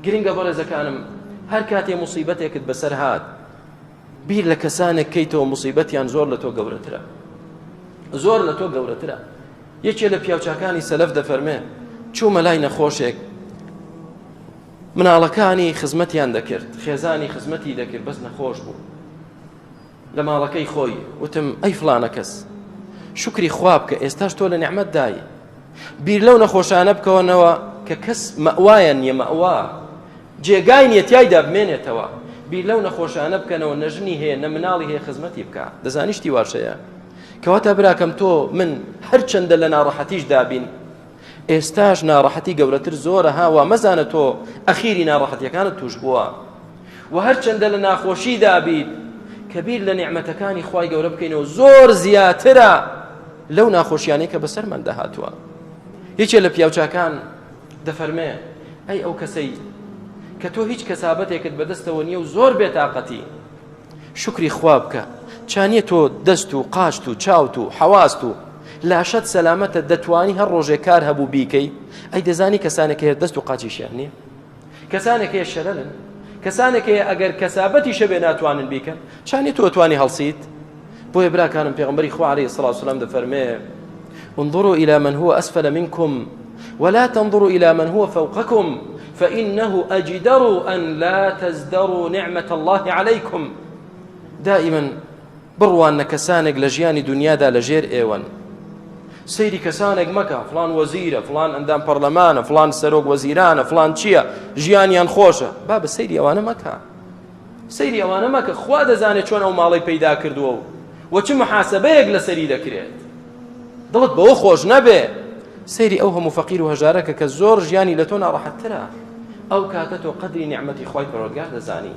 گرنگە بەڕێزەکانم هەر کاتێ مصیبەتێکت بەسەر هاات بیر لە کەسانێک کەیتەوە مصیبەتیان زۆر لە تۆ گەورەترە زۆر لە تۆ گەورەترە یەکێ لە پیاوچکانی سەلف دەفەرمێ چوومە لای نەخۆشێک مناڵەکانی خزمەتیان دەکرد خێزانی خزمەتی دەکرد بەس نەخۆش بوو لە ماڵەکەی خۆی وتم ئەی فڵانە کەس شکری خوا بکە ئێستاش تۆ لە نعممەت دای بیر لەو نەخۆشانە بکەونەوە کە کەس مەوایە نیە مەوا جێگای نیە تایدا بمێنێتەوە بیر لەو نەخۆشانە بکەنەوە نەژنی هەیە نە مناڵی هەیە خزمەتی بکە دەزانیشتی واشەیە کەواتە براکەم تۆ من هەرچەندە لە ناڕەحەتیش دابین ئێستاش ناڕەحەتی گەورەتر زۆرە ها وا مەزانە تۆ ئەخیری ناڕەحەتیەکانت توش بووە و هەرچەندە لە ناخۆشی دابیت کە بیر لە نیعمەتەکانی خوای گەورە بکەینەوە زۆر زیاترە لەو ناخۆشیانەی کە بەسەرمان دەهاتووە یەکێ لە پیاوچاکان دەفەرمێ ئەی ئەو کەسەی کە تۆ هیچ کەسابەتێکت بەدەستەوە نییە و زۆر بێتاقەتی شوکری خوا بکە چانیە تۆ دەست و قاچت و چاوت و حەواست و لاشەت سەلامەتە دەتوانی هەر ڕۆژێک کار هەبوو بیکەی ئەی دەزانی کەسانێک هەیە دەست و قاچیشیان نییە کەسانێک هەیە شەرەن کەسانێک هەیە ئەگەر کەسابەتی شەبێ ناتوانن بیکەن چانی تۆ توانی هەڵسیت بۆیە براکانم پێغمبەری خوارەی سڵاوسلام دەفەرمێ انظروا إلى من هو أسفل منكم ولا تنظروا الى من هو فوقكم فانه اجدر ان لا تزدروا نعمة الله عليكم دائما بڕوان نە کەسانێک لە ژیانی دنیادا لە ژێر ئێوەن سەیری کەسانێک مەکە فلان وەزیرە فلان ئەندام پەرلەمانە فلان سەرۆک وەزیرانە فلان چییە ژیانیان خۆشە با بە سەیری ئەوانە مەکە سەیری ئەوانە مەکە خوا دەزانێت چۆن ئەو ماڵەی پەیدا کردووە و وە چ محاسبەیەک لەسەری دەکرێت دڵت بەوە خۆش نەبێ سەیری ئەو هەموو فەقیر و هەژارەکە کە زۆر ژیانی لە تۆ ناڕەحەتترە ئەو کاتە تۆ قەدری نیعمەتی خوای پەروەردگار دەزانی